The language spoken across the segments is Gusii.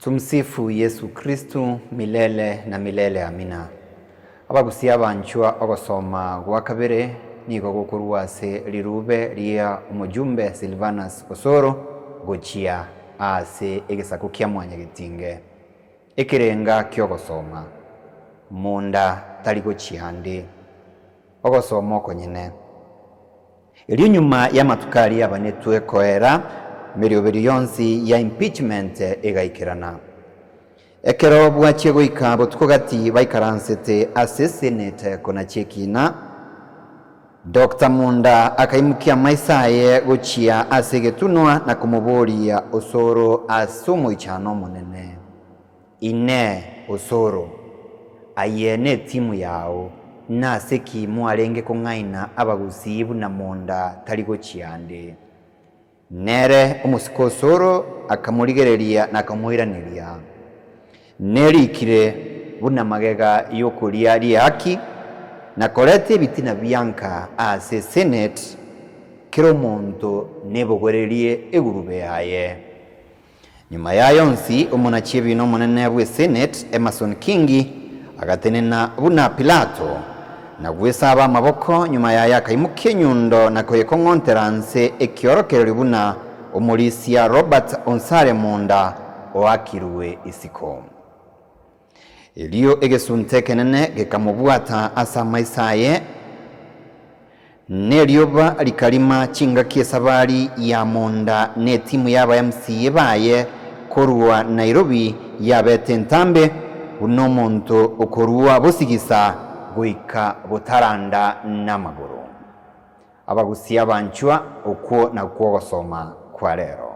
Tumsifu Yesu Kristo milele na milele amina. Abagusia abanchwa ogosoma gwa kabere nigo gokorwa ase rirube ria omojumbe Silvanus Osoro gochia aase egesaku kia Mwanyagetinge. Ekerenga kiogosoma. Monda tari gochia ande. Ogosoma okonyene. Erio nyuma y'amatuko aria abanetwe koera, emeriuberio yonsi ya impeachment egaikerana. Ekero bwachia goika botuko gati baikaransete ase Senate kona chi'ekiina, Doctor Munda akaimokia amaiso aye gochia ase egetunwa na komoboria osoro ase omoichano omonene. Inee! Osoro, aye netimu yao? Nase ki mwarenge kong'aina abagusii buna monda tari gochia ande? Nere omosike Osoro akamorigereria na akamoiraneria, Nerikire, Buna magega y'okoria ri'ehaki, nakorete ebitina bianka ase Seneti, kera omonto nebogorerie egurube yaye. Nyuma y'aya onsi, omonachiebina omonene bw'Eseneti, Emerson Kingi, agatenena buna Pilato, na gwesaba amaboko, nyuma y'aya akaimokia enyundo na koyekong'ontera nse ekiorokererio buna omorisia Robert Onsare Munda oakirwe isiko. Erio egesunte ekenene gekamobwata ase amaiso aye, na erioba rikarima chingaki esabari ya monda, na etimu y'abaMCA baye korwa Nairobi yabete entambe, buna omonto okorua bosigisa goika botaranda namagoro. Abagusia abanchwa, okwo nakwo ogosoma kwa rero.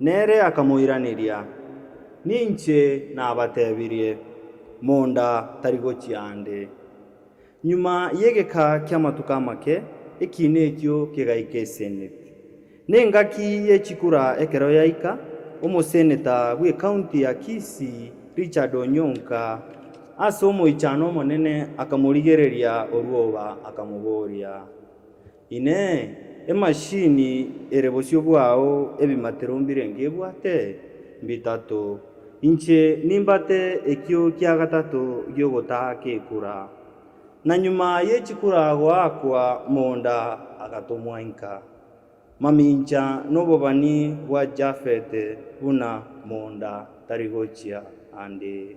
Nere akamoiraneria, Ninche nabatebirie, Monda tari gochia ande. Nyuma y'egeka ki'amatuko amake, ekiina ekio kegaika eseneti. Nengaki ye chikura ekero yaika, omoseneta bw'ekaunti ya Kisii Richard Onyonka ase omoichano omonene akamorigereria orwoba akamoboria, Inee! Emashini ere bosio bwao ebimatero mbirenge ebwate? Mbitato. Inche nimbate ekio kia gatato gi'ogotaa kekura. Na nyuma ye chikura goakwa monda agatomwa inka. Mamincha nobobani bwa Jafete buna monda tari gochia ande.